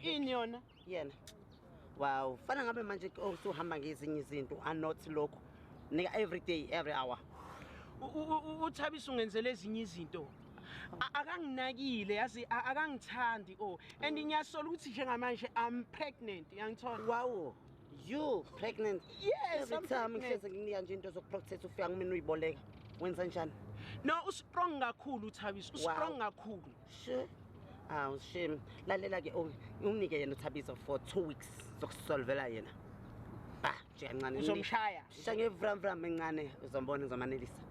ini yona yena wow fana ngabe manje oh, suhamba ngezinye izinto anot lokhu nika every day every hour uthabisa ungenzela ezinye izinto akanginakile yazi akangithandi o oh. and ngiyasola ukuthi njengamanje i'm pregnant yangithola wawo you pregnant yes every time ngihleze nginika nje into zokuprocess ufika kumina uyiboleka wenza njani no ustrong kakhulu uthabisa ustrong kakhulu Sure. Awu shame. Lalela ke oh, unginike yena uThabiso for 2 weeks zokusolvela yena. Ba, nje kancane. Uzomshaya. Shisha ngevram vram encane uzombona uzomanelisa.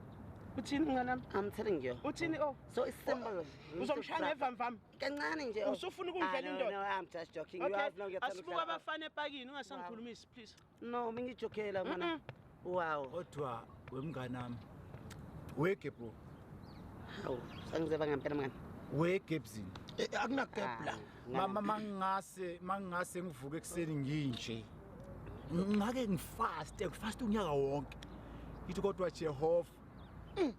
Uthini mngane wami? I'm telling you. Uthini oh? So it's simple. Oh, uzomshaya ngevram vram. Kancane nje. Oh. Usufuna ukungidlela ah, indoda. No, I'm just joking. You have no get. Asibuka abafana epakini ungasangikhulumisi please. no uma ngijokhela mona wow kodwa wemngane wami wege bro hawu sangizeba ngempela mngane wege ebuzini eh, akunakepla mama mangingase mangingase ngivuke ekuseni nginje ngake ngifaste ngifaste unyaka wonke ngithi kodwa jehova mm.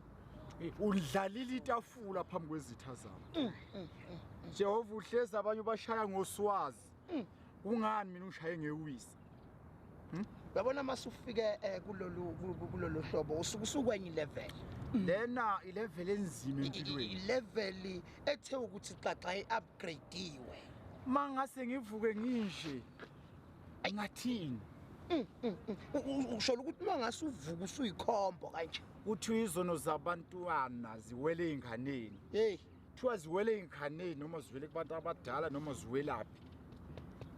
eh, undlalile itafula phambi kwezitha zami mm, mm, jehova uhlezi abanye ubashaya ngoswazi Hmm, kungani mina ungishaye ngewisa? Hmm? Yabona uma sufike eh, kulolu kulolu hlobo usuke usukwenye level. Hmm. Lena ilevel enzima empilweni. Ilevel ethe ukuthi xaxa iupgradewe. Mangase ngivuke nginje. Ngathini? ushola ukuthi uma ngase uvuka usuyikhombo kanje kuthi izono zabantwana ziwele ey'nganeni heyi kuthiwa ziwele ey'nghaneni noma ziwele kubantu abadala noma ziwelaphi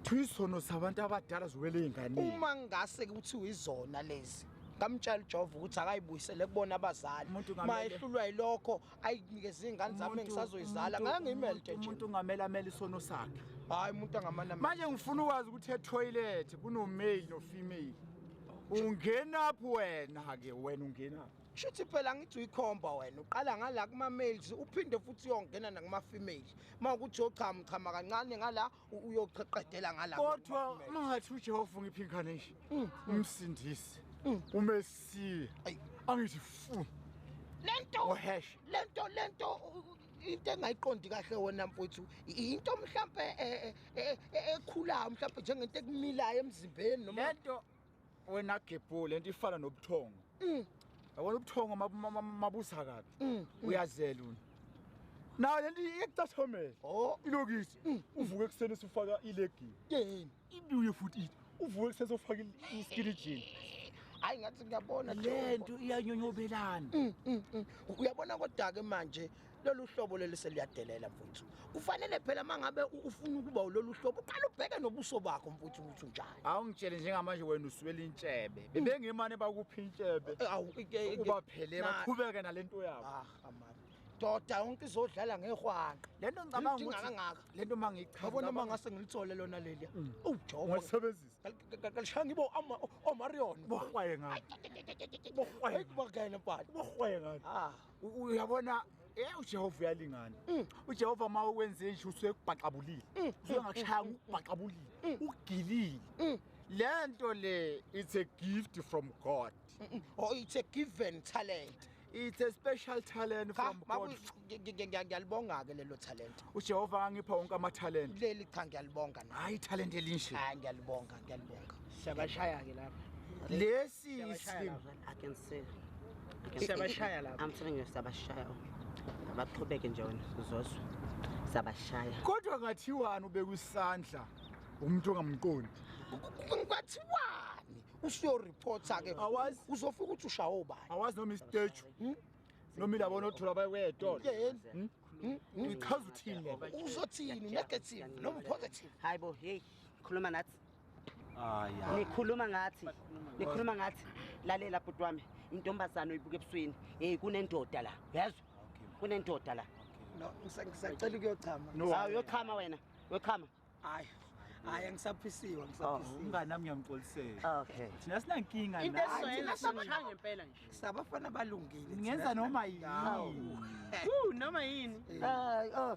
kuthiwa izono zabantu abadala ziwele ey'nghaneni uma ngingase kuthiwa izona lezi ngamtshela ujova ukuthi akayibuyisele kubona abazali ma ehlulwa yilokho ayinikeze iy'ngane zami engisazoyizala ngake ngiyimelte nje umuntu ungamele amele isono sakhe hhayi umuntu angamane manje ngifuna ukwazi ukuthi ethoyilethi kunomale nofemale ungenaphi wena-ke wena ungenaphi Shuthi phela ngithi uyikhomba wena uqala ngala kuma males uphinde futhi uyongena nakuma females mawukuthi yochama uchama kancane ngala uyoqeqedela ngala kodwa mangathi uJehova ungiphi ingane nje mm. umsindisi mm. umesiya angithi fu lento lento lento into engayiqondi kahle wona mfuthu into mhlambe eh, eh, eh, ekhulayo mhlambe njengento ekumilayo emzimbeni noma lento wena gebhu le nto ifana nobuthongo mm. yabona ubuthongo mabusa kabi mm, mm. uyazela una nayo le nto iyakucathomela oh. ilokisi uvuke ekuseni usufaka ilegini yini ibuye futhi ithi uvuke ekuseni sofaka iskilijini hayi ngathi ngiyabona le nto iyanyonyobelana uyabona kodwa-ke manje lolu hlobo leli seliyadelela mfuthu kufanele phela mangabe ufuna ukuba ulolu hlobo uqala ubheke nobuso bakho mfuthu ukuthi unjani awungitshele njengamanje wena uswela intshebe bebengimane bakuphi intshebe eh, ubaphele baqhubeke nalento yabo ah amama doda yonke izodlala ngehwanqa lento ngicabanga ukuthi kangaka lento mangichaza yabona uma ngase ngilithole lona leli mm. ujowo ngisebenzisa kalishanga ibo ama omarion bohwaye ngani bohwaye kubakene pali bohwaye ngani ah uyabona Eh uJehova uyalingana. Mm. UJehova uma ukwenze nje usuyekubhaqabulile. Mm. Mm. Usengakushaya ukubhaqabulile. Ugilile. Lento le it's a gift from God. Or oh, it's a given talent. It's a special talent from God. Ngiyalibonga ke lelo talent. UJehova angipha wonke ama talent. Leli cha ngiyalibonga na. Hayi talent elinje. Hayi ngiyalibonga, ngiyalibonga. Siyabashaya ke lapha. Lesi Siyabashaya lapha. I'm telling you siyabashaya. Abaqhubeke nje wena uzozwa. Siyabashaya. Kodwa ngathiwani ubeka isandla umuntu ongamqondi? Ngathiwani? Usiyo reporter ke. Awazi uzofika ukuthi ushawa obani. Awazi noma istage. Hmm? noma ilabo nothola bayewetolo hmm? hmm? ngichaza uthini uzothini negative noma positive hayibo hey khuluma nathi Aya. Nikhuluma ngathi. Nikhuluma ngathi. Lalela bhuti wami. Intombazana oyibuka ebusweni. Hey kunendoda la. Uyazwa? Kunendoda la. No, ngisacela ukuyochama. Hawu yochama wena. Yochama. Hayi. Hayi angisaphisiwe ngisaphisiwe. Oh, umngane nami ngiyamxolisela. Okay. Thina sinankinga la. Into esoyela sishaya ngempela nje. Sabafana balungile. Ngenza noma yini. Woo noma yini. Hayi oh.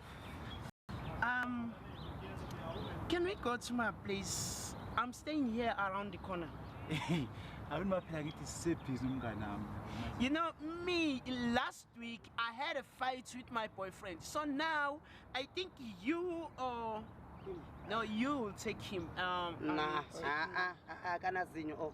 Um, can we go to my place? I'm staying here around the corner. I've been phela ngithi sisebhizi umnganami. You know me last week I had a fight with my boyfriend. So now I think you or no you will take him. Um, nah, ah ah ah kana zinyo oh.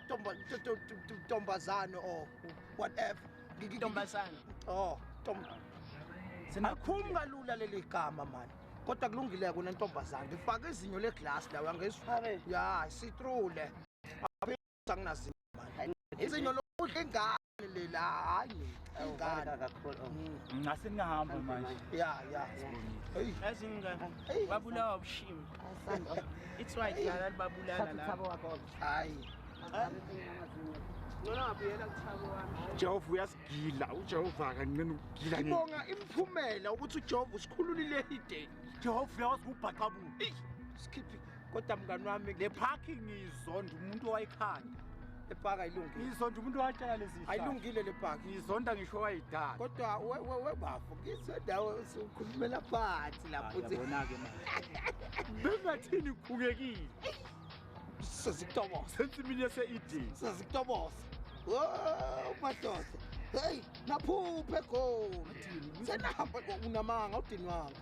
ntombazane or whatever ntombazane oh alikhumi kalula leli gama mani kodwa kulungile kona ntombazane ngifake izinyo leglasi lawo angezifake ya sitrule anginazinyo mani izinyo lokudla ingane lela hayi ingane ngase ningahamba manje ya ya yazi ingane babulawa ubushimi it's why dlala babulala la thabo wakho hayi Ngona ngabuyela kuthabo wami. Jehova uyasigila, uJehova akancane ukugila nje. Ngibonga imphumela ukuthi uJehova usikhululile ideni. Jehova uyawazi ukubhaqabula. Sikhiphi kodwa mngani wami le parking izonda umuntu owayikhanda. le paka ayilungile ngizonda umuntu watshela lezi ayilungile le paka ngizonda ngisho wayidala kodwa we we we bafo ngizonda ukhulumela phansi lapho uthi yabona ke manje bengathini ukhukekile sezikutobose sensimini yase ED sezikutobose oh madoda hey naphuphe goli senahamba unamanga udinwanga